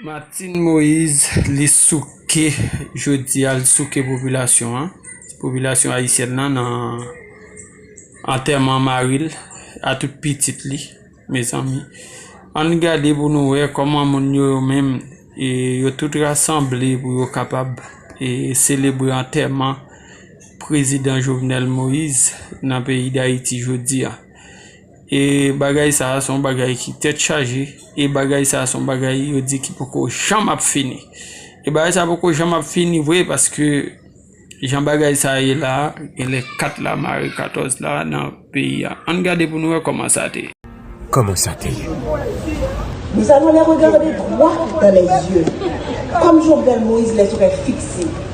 Martine Moise li souke jodi a, li souke popilasyon an, popilasyon ayisyèn nan nan antèman mari l a tout pitit li mezanmi. Ann gade pou nou wè kòman moun yo yo menm e yo tout rasanble pou yo kapab e selebre antèman prezidan Jovenel Moise nan peyi Dayiti jodi a. E bagay sa a se yon bagay ki tèt chaje, e bagay sa a se yon bagay yo di ki poko janm ap fini. E bagay sa a poko janm ap fini vre paske jan bagay sa a ye la a, gen lè kat la mare katòz la nan peyi a. Ann gade pou nou wè kòman sa te ye. Kòman sa te ye? Nou alon lè regade dwat dan lèzye, kòm Jovenel Moïse lèzorèy fikse.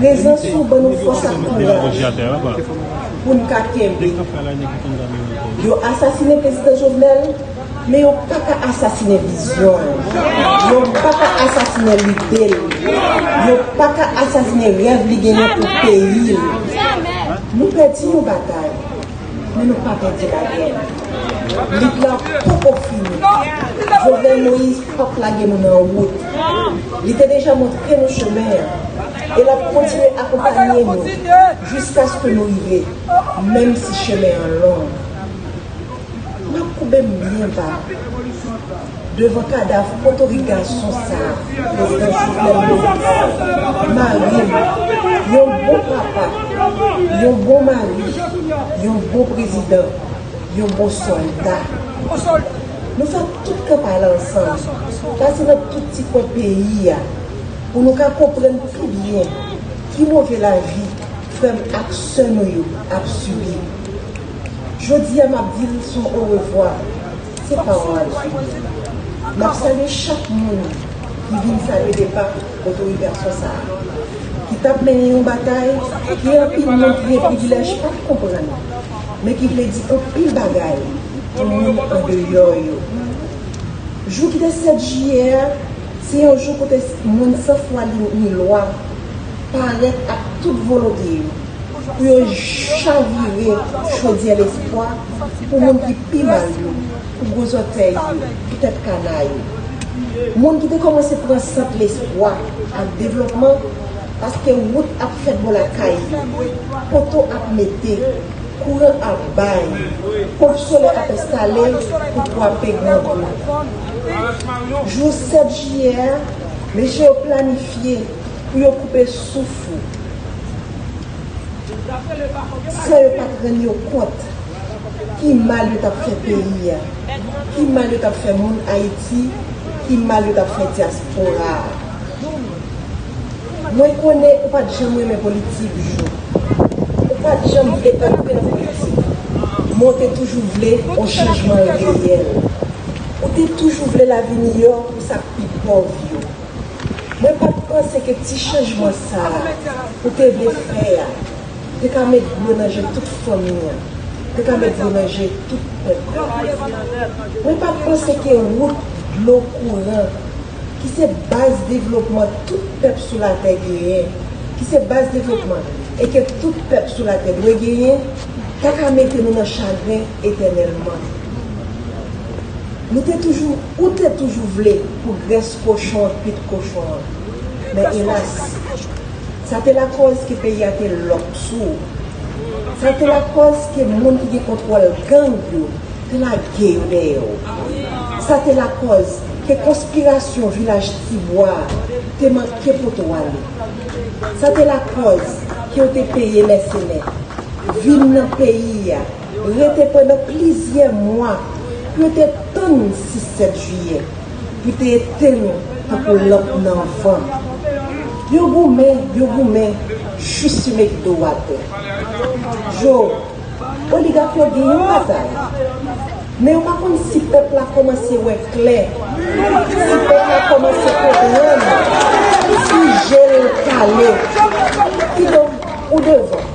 Prezans ou ban nou fòs ak kouraj pou n ka kenbe. Yo asasine Prezidan Jovenel, men yo pa ka asasine vizyon l. Yo pa ka asasine lide l. Yo pa ka asasine rèv li genyen pou peyi l. Nou pèdi yon batay. Men nou pa pèdi lagè nou. Lit la poko fini. Jovenel Moïse pap lage nou nan wout. Li te deja montre nou chemen an. E lap kontinye akonpanye nou jiskaske nou rive, menm si chemen an long. Map koube m byen ba. Devan kadav potorik gason sa prezidan jovenel moise marim yon bon papa yon bon mari yon bon prezidan yon bon solda nou fè tout kanpay la ansanm pase nan tout ti kwen peyi a pou nou ka konprann pi byen ki move lavi frèm ak sè nou yo ap sibi jodia map dil sou orevwa. Se pawòl Jimmy m ap salye chak moun ki vin salye depa otorite aksyon sa a ki t ap mennen yon batay ke anpil moun ki gen privilèj pa t konprann men ki vle di anpil bagay pou moun andeyò yo. Jou ki te 7 jiyè a se yon jou kote moun san fwa ni lwa parèt ak tout volonte yo. Pou yo chavire chodyè lespwa pou moun ki pi mal yo, pou gwo zòtèy yo, pou tèt kana yo. Moun ki te kòmanse pran sant lespwa ak devlòpman paske wout ap fèt bò lakay yo, poto ap mete, kouran ap bay, ponp solè ap enstale pou kwape grangou. Jou 7 jiyè a, mesye yo planifye Pou yo koupe souf ou. San yo pat rann yo kont ki mal yo tap fè peyi a, ki mal yo tap fè moun Ayiti, ki mal yo tap fè dyaspora a. Mwen konnen ou pat janm renmen politik Jou. Ou pat janm vle antre nan politik. Men w te toujou vle on chanjman reyèl. Ou te toujou vle lavi miyò pou sa k pi pòv yo. Mwen pa t panse ke ti chanjman sa a ou te vle fè a te ka met dlo nan je tout fanmi an, te ka met dlo nan je tout pèp la. Mwen pa t panse ke wout, dlo, kouran, ki se baz devlopman tout pèp sou latè genyen, ki se baz devlopman e ke tout pèp sou latè dwe genyen, ta ka mete nou nan chagren etènèlman. Nou te toujou, ou te toujou vle pou grès kochon an kwit kochon an. Men elas, sa te lakòz ke peyi a te lòk sou ou. Sa te lakòz ke moun ki gen kontwòl gang yo te lage yo dèyè ou. Sa te lakòz ke konspirasyon Vilaj Ti Bwa a te manke pote w ale. Sa te lakòz ke yo te peye mèsenè vin nan peyi a rete pandan plizyè mwa pou yo te tann 6 7 jiyè pou te etenn nou tankou lanp nan van yo goumen yo goumen jis yo met do a tè jo oligak yo gen yon batay men yo pa konn si pèp la kòmanse wè klè si pèp la kòmanse konprann si je l kale kidonk ou devan.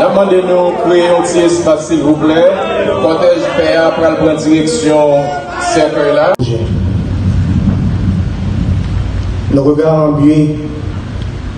Nap mande nou kreye yon ti espas silvouplè, kòtèj pè a pral pran direksyon sèkèy la. Le regard en biais.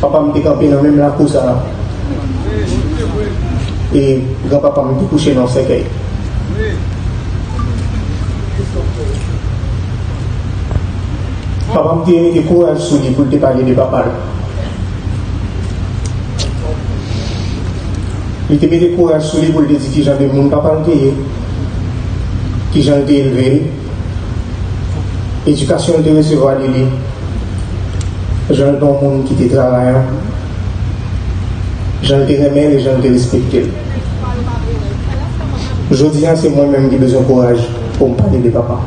Papa m te kanpe nan menm lakou sa a. E gran papa m te kouche nan yon sèkèy. Papa m te mete kouraj sou li pou l te pale de papa l. Li te mete kouraj sou li pou l te di kijan de moun papa l te ye. Kijan l te elve l. Edikasyon l te resevwa de li, jan l te yon moun ki te travayan, jan l te renmen l e jan l te respekte l. Jodi a, se mwen menm ki bezwen kouraj pou m pale de papa m.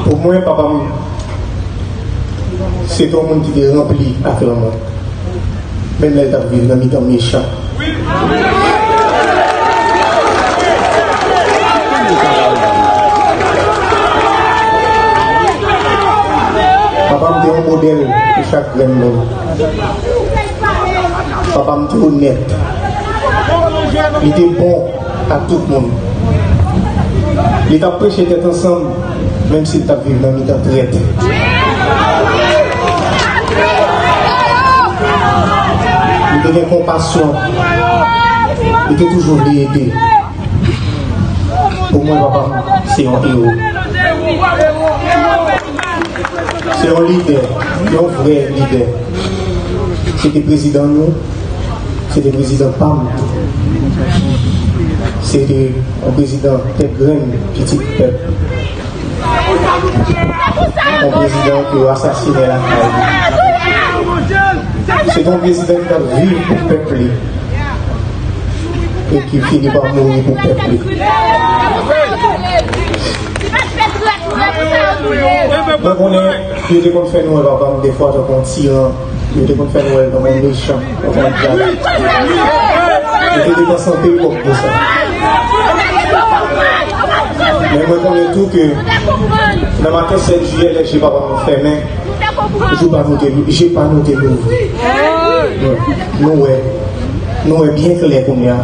Pou mwen, papa m se te yon moun ki te ranpli ak lanmou. Menm lè l t ap viv nan mitan mechan. Papa m te yon modèl pou chak grenn moun. Papa m te onèt. Li te bon. Ak tout moun. Li t ap preche tèt ansanm, menm si l t ap viv nan mitan trèt. Li te gen konpasyon. Li te toujou vle ede. Pou mwen, papa m se yon ewo. Se yon lidè, yon vrè lidè. Se te prezidan nou. Se te prezidan pa m. Se te yon prezidan tèt grenn, pitit pèp. Yon prezidan ki yo asasine lakay li. Se te yon prezidan ki t ap viv pou pèp li e ki fini pa mouri pou pèp li. Mwen konnen yo te konn fè nou wè papa m defwa tankou yon tiran. Yo te konn fè Nwèl kòm yon mechan, kòm yon dyab. Yo te depanse anpil kòb pou sa. Men mwen konnen tou ke nan maten 7 jiyè lè je papa nou fèmen, je pa nou te louvri. Nou wè, nou wè byen klè kounya.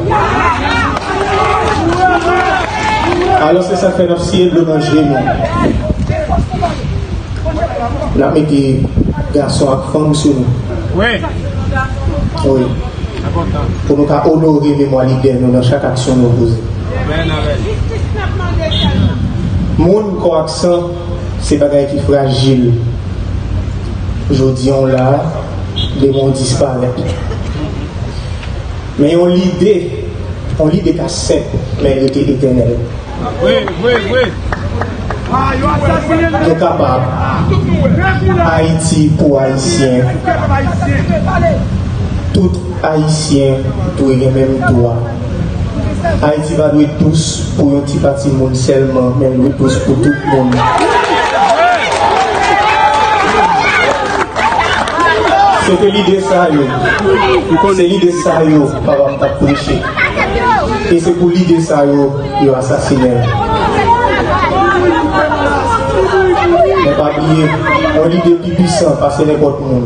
Alò se sa k fè n ap siye dlo nan je nou. Nap mete gason ak fanm sou nou. Wi. Pou nou ka onore memwa lidè nou nan chak aksyon nou poze. Moun, kò ak san se bagay ki frajil. Jodi an ou la, demen ou disparèt. Men yon lide, yon lide ka senp men rete etènèl. Yo kapab, Ayiti pou Ayisyen, tout Ayisyen dwe gen menm dwa. Ayiti pa dwe dous pou yon ti pati moun sèlman, men l dwe dous pou tout moun. Se te lide sa yo, se lide sa yo papa m t ap preche. E se pou lide sa yo yo asasine l. Men pa bliye, yon lide pi pwisan pase nenpòt moun.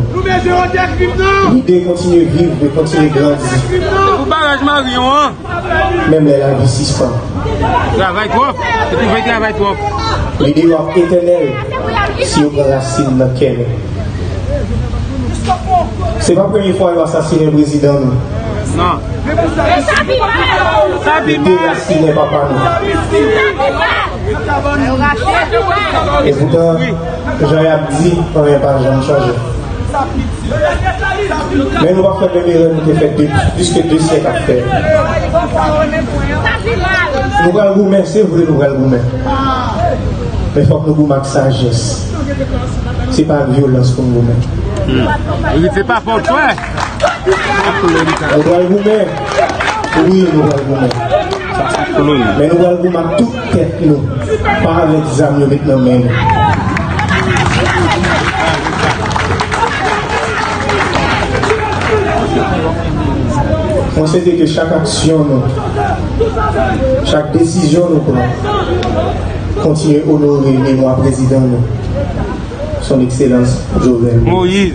Lide kontinye viv, li kontinye grandi. Menm lè lavi sispann. Lide yo ap etènèl si yo pran rasin nan kè nou. Se pa premye fwa yo asasinen prezidan nou. Yo derasinen papa nou. E poutan, jan y ap di, anyen pa janm chanje. Men nou pa fè menm erè nou te fè plis ke 2 syèk ap fè. Nou pral goumen, se vre nou pral goumen. Men fòk nou goumen ak sajès. Se pa vyolans pou m goumen. Se pa pou twa. Nou pral goumen. Wi nou pral goumen. Men nou pral goumen ak tout tèt nou. Pa avèk zam yo met nan men nou. Mwen swete ke chak aksyon nou, chak desizyon nou pran. Kontinye onore memwa prezidan nou Son Ekselans Jovenel Moïse.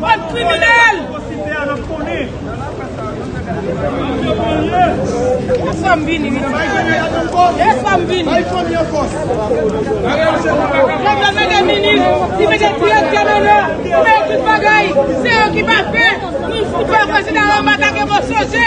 Bann kriminel! Esam vini wi ti. Esam vini. Nèg la mete minis, li mete direktè nan la, li mete tout bagay, se yo ki pa fè. Nou fout wè prezidan anba ta gen mò soje.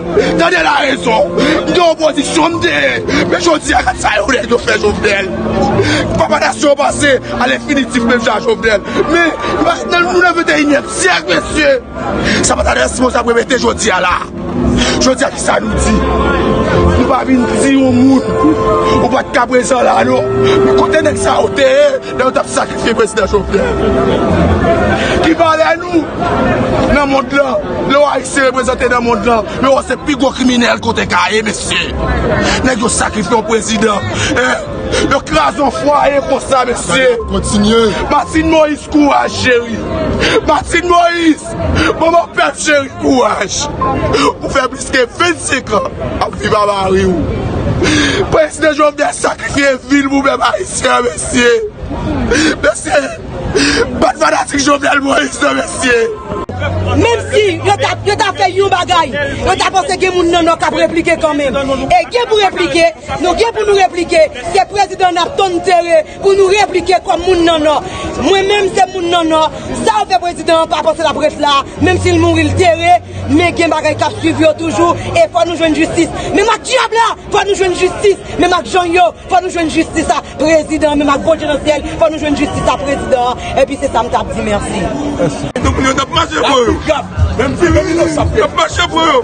Tande la rezon, m te opozisyon, m te men jodi a gad sa yon nèg yo fè Jovenel. Papa nasyon panse a lenfinitif menm jan a Jovenel. Men, nou nan 21 nyèm syèk mesye, sa pa ta dwe sipoze ap repete jodi a la. Jodi a ki sa nou di? Nou pa vin di yon moun ou pa t ka prezan la non. Men kote nèg sa yo te ye? Lè yo tap sakrifye prezidan Jovenel. Ki valè nou nan mond lan. Lè wè ayisyen reprezante nan mond lan. Yo wè se pi gwo kriminèl kote ka ye mesye. Nèg yo sakrifye yon prezidan. Yo kraze yon fwaye konsa mesye. Martine Moïse kouraj cheri. Martine Moïse manman pèp cheri kouraj. Paske 25 an ap viv a mari w. Prezidan Jovenel sakrifye vil pou pèp ayisyen an mesye. Mesye, bat fanatik Jovenel Moïse nan mesye. Menm si yo ta fè yon bagay, yo ta panse gen moun nan nò k ap replike kanmenm. E gen pou replike, nou gen pou nou replike, se prezidan n ap tann tere. Pou nou replike kòm moun nan nò. Mwen menm se moun nan nò, sa ou fè prezidan an pa panse lap ret la, menm sil mouri l tere, men gen bagay kap swiv yo toujou e fò nou jwenn jistis menm ak dyab la, fò nou jwenn jistis menm ak jang yo, fò nou jwenn jistis a prezidan menm ak Bondye nan syèl, fò nou jwenn jistis a prezidan an epi se sa m tap di mèsi. Tout moun yo tap mache pou yo.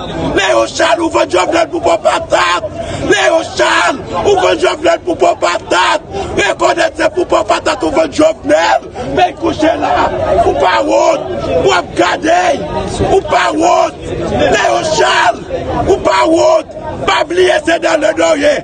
Leon Charles ou vant Jovenel pou po patat Leon Charles ou vant Jovenel pou po patat rekonèt se pou po patat ou vant Jovenel vin kouche la ou pa wont ou ap gade ou pa wont Leon Charles ou pa wont pa bliye se nan lè nou ye.